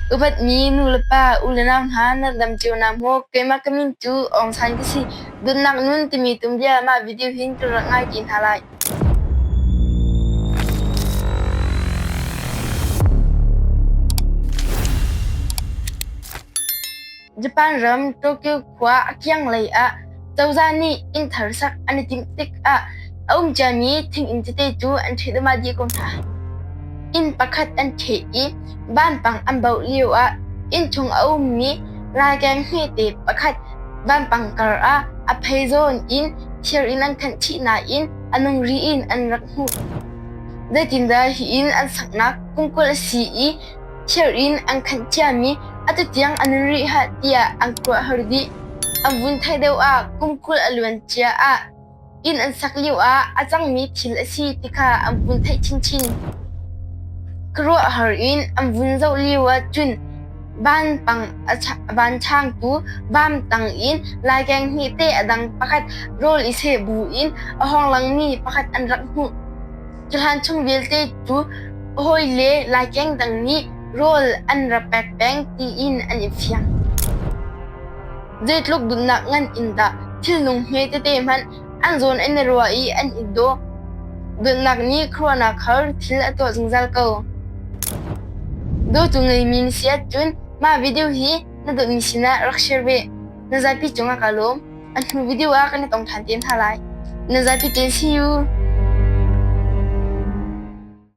Upatmi nulepa, u le nau hna nerdam cio hna mu. Keimah ka min cu Aung San ka si. Dawtnak nun timi tumrial ah mah video hin ka rak ngai ti hna lai. Japan ram Tokyo khua a kianglei ah cozah nih inn thar sak an i timh tikah a um ciami thinginn tete cu an ṭheh dahmah dih ko hna. Inn pakhat an ṭheh i vanpang an bauh lio ah inn chung a ummi ralkeng hmete pakhat vanpang kar ah a phei zawn in thir in an khanh chih nain a nung ri in an rak hmuh. Zeitindah hi inn an saknak kum kul a si i chirh in an khanh ciami a tutiang a nun rih hlah tiah an kuahhor dih. An vun theih deuh ah kum kul a luan cia ah inn an sak lio ah a cangmi thil a si ti kha an vun theih chinchin. Ka ruahhor in an vun zoh lio ah cun vanpang van changtu vam tang in laikeng hi te a dang pakhat rawl i seh bu in a hawng langmi pakhat an rak hmuh. Tuhan chung vialte cu hawi le laikeng dang nih rawl an ra pek peng tiin an i fiang. Zeitluk dunnak ngan in dah thilnung hme tete hmanh an zawn an i ruah i an i daw. Dunnak nih khuaruahnak khar thil a tuah zungzal ko. Dawtu ngeimi na si ahcun mah video hi na dawtmi sinah rak share ve. Na zapi cungah ka lawm. An hnu video ah kan i tong ṭhan te hna lai. Na zapi ṭe si u!